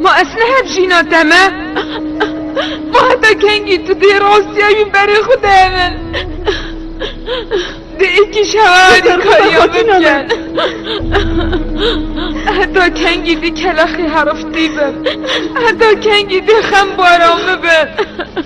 Ma ez ne hep jîna te me? Ma heta kengî tu dê rastiya wî berê xwe de hemin? Dê êkîş hewa alîkariya min bike. Heta kengî dê kelexê heriftî bim? Heta kengî dê xembara min bim?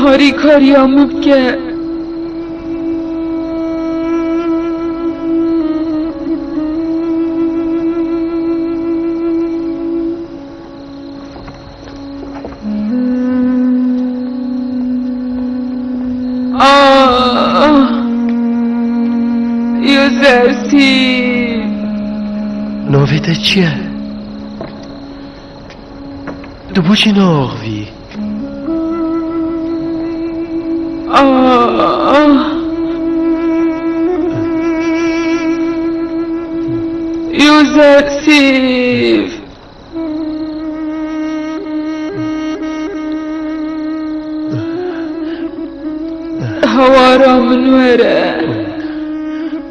Harîkariya min bike. Navê te çi ye? Tu boçî naaxivî. Yûzesîf! Hawara min were.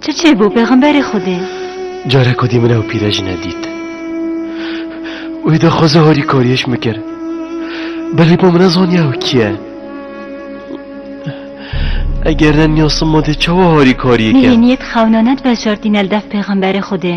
Çi çêbû pêxemberê Xwedê? Cara ku dî min ew pîrejine dît. Wî di xwe zehorî kariyêş min kir. Belê bo min nezaniya ew kî ye. Eger ne niyasım mode çawa harî kariyê ke? Nihêniyê di xewnaned beşartîne li dev pêxemberê Xwedê.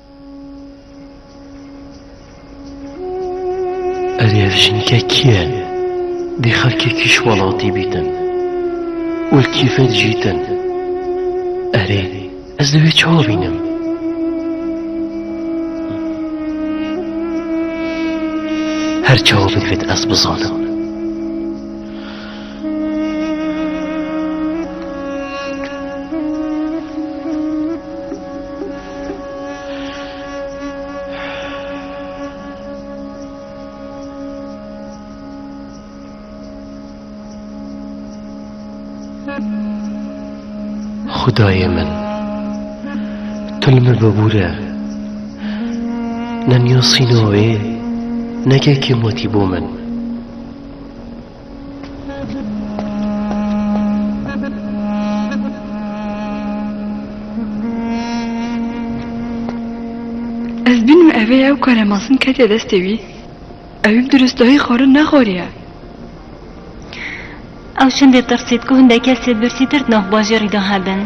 Erê ev jinike kî ye? Dê xelkê kîş welatî bîtin û li kîfê dijîtin. Erê ez divê çawa bînim? Her çawa bi divê ez bizanim. Xudayê min tu li min bibûre ne niyosîna wê ne kekê matî bo min. Ez bînim evê ew karemasn ketiye destê wî. Ewî bi duristahî xwarin nexwariye. Ew çendê tirsît ku hindê kesê birsîtir di nav bajêrî de hebin.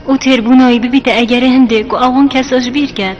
Û têrbûna wî bibîte egerê hindê ku ew wan kesa ji bîr ket.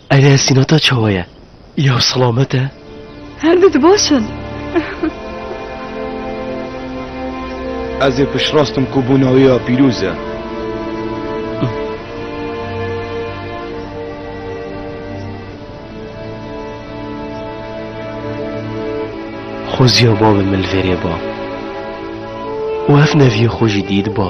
Erê sînata çawa ye? Îyaw selamet e? Her du dibaş in. Ez ê piştrast im ku bûna wê ya pîroz e. Xwezîya bavê min li vê rê ba û ev neviyê xwe jî dît ba.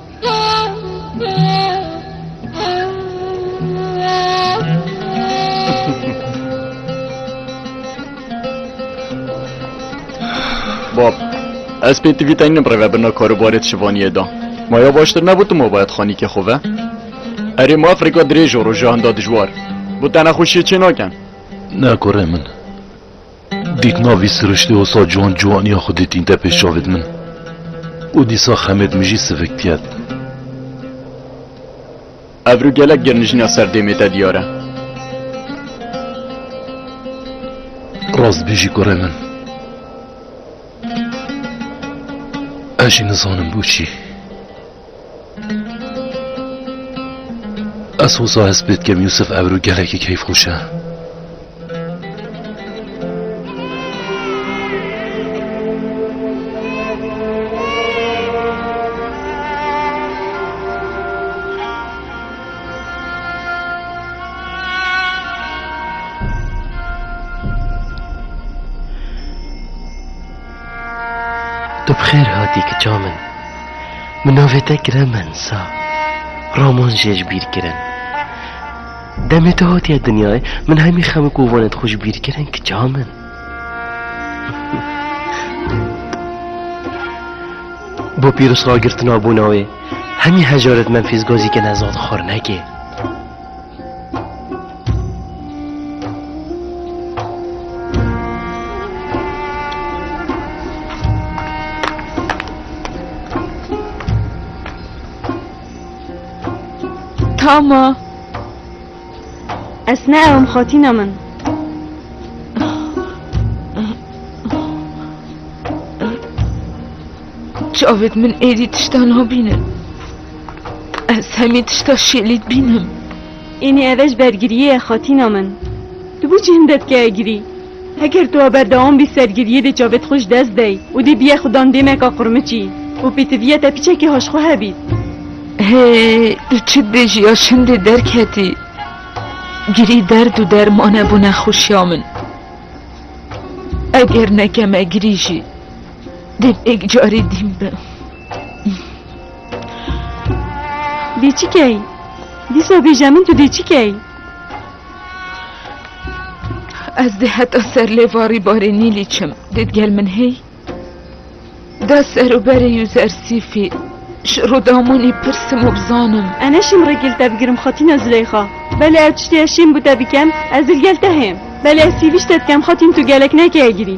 Bab, ez pê tivî tengim rêve birna karobarê di şivaniyê de. Ma ya baştir nebû tu mobayet xanîkê xwe ve? Erê ma Afrika dirêj û roja hinda dijwar. Bû te nexweşiyê çê nakin. Ne kurê min. Dîk na vî siriştê wisa ciwan ciwaniya xwedê tînte pêş çavê di min û dîsa xemê di min jî sivik diket. Ebru gelek girnijîna ser dêmê te diyar e. Rast bêjî kurê min. Ez jî nizanim boçî. Ez hoza hest pê dikim Yûsif Ebru gelekî keyfxweş e. Tu bi xêr hatî kiça min. Min navê te kire Mensa. Roman jê ji bîr kirin. Demê tu hatiye dinyayê min hemî xem û kovanê xwe ji bîr kirin kiça min. Bo pîrozragirtina bûna wê hemî hejaret Memfîs Gazî ke nezad xor nekê. Tama Ez neewim xatîna min Çavêt min êdî tişta nabînin Ez hemî tişta şêlî dibînim. Ênî eve ji bergiriyê ye xatîna min. Tu bû çi hinde dike egirî? Heger tu a berdewam bî sergiriyê dê çavê di xwe ji dest dey û dê biye xwe dan dêmeka qurmiçî û pêtiviya te piçekî haşxwe hebît. Hê tu çi dibêjî ya şindê derketî. Girî derd û derman e bo nexweşiya min. Eger nekem egirî jî dê bê yek carî dîn bim. Dê çi key? Dîsa bêje min tu dê çi key? Ez dê heta ser lê varî barê nîlî çim. Dê gel min hey? Da ser û berê yû zersîfî. Ji rodamonî pirsim û bizanim. E neşim rê gel te bigirim xatîna Zileyxa. Belê ev tiştê ez şêm bi te bikem, ez dil gel te hêm. Belê ez sîvîş te dikem xatîn tu gelek nekeye girî.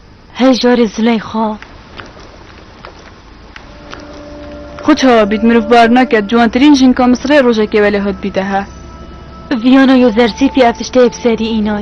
Hey carê Zileyxa. Xwe çawa bît mirov bar nake ciwantirîn jinka Misirê rojekê welê hat bîte he. Viyana yo zersîfî ev tiştê yê bi serî îna ye.